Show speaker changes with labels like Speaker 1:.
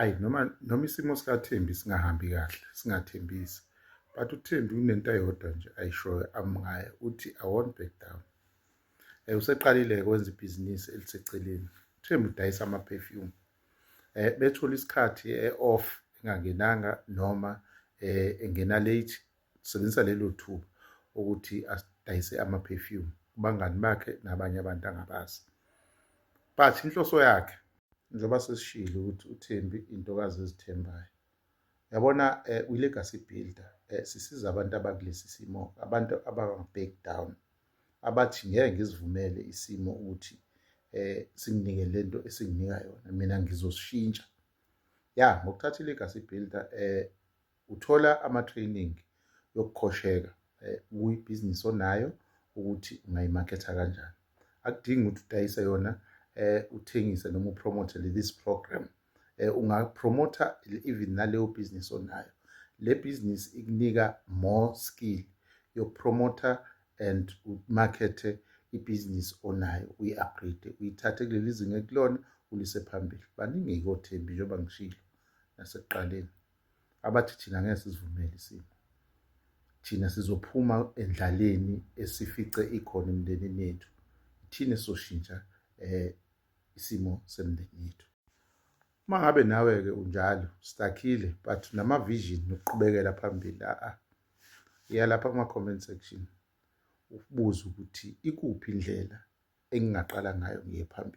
Speaker 1: ayi noma noma isimo sikaThembi singahambi kahle singathembisi but uThembi unento eyodwa nje ayishoyo amngaye uthi i won't back down eh useqalile kwenza ibhizinisi eliseceleni uThembi udayisa ama perfume eh bethola isikhathi eoff engangenanga noma eh engena late Sisebenzisa lelo thuba ukuthi asidayise ama-perfume kubangani bakhe nabanye abantu angabazi. But inhloso yakhe njengoba sesishilo ukuthi uThembi intokazi ezithembayo. Yabona eh, uyi-legacy builder eh, sisiza abantu abakulesi simo, abantu abanga-back down, abathi ngeke ngizivumele isimo ukuthi eh singinike lento esinginika yona mina ngizoshintsha ya ngokuthatha i-legacy builder eh Uthola ama-training yokukhosheka eh, kuyibhizinisi onayo ukuthi ungayimaketha kanjani. Akudingi ukuthi udayise yona eh, uthengise noma upromote this program. Eh, ungapromotha even naleyo bhizinisi onayo. Le bhizinisi ikunika more skill yokupromotha and umakethe ibhizinisi onayo uyi-upgrade uyithathe kuleli zinga ekulona ulise phambili baningi-ke othembi njengoba ngishilo nasekuqaleni abathi thina ngeke sizivumele isimo thina sizophuma endlaleni esifice ikhona emndenini yethu thina soshintsha eh isimo semndeni yethu uma ngabe nawe-ke unjalo stakhile but nama-vision nokuqhubekela phambili a-a iyalapha kuma-comment section ukubuza ukuthi ikuphi indlela engingaqala ngayo ngiye phambili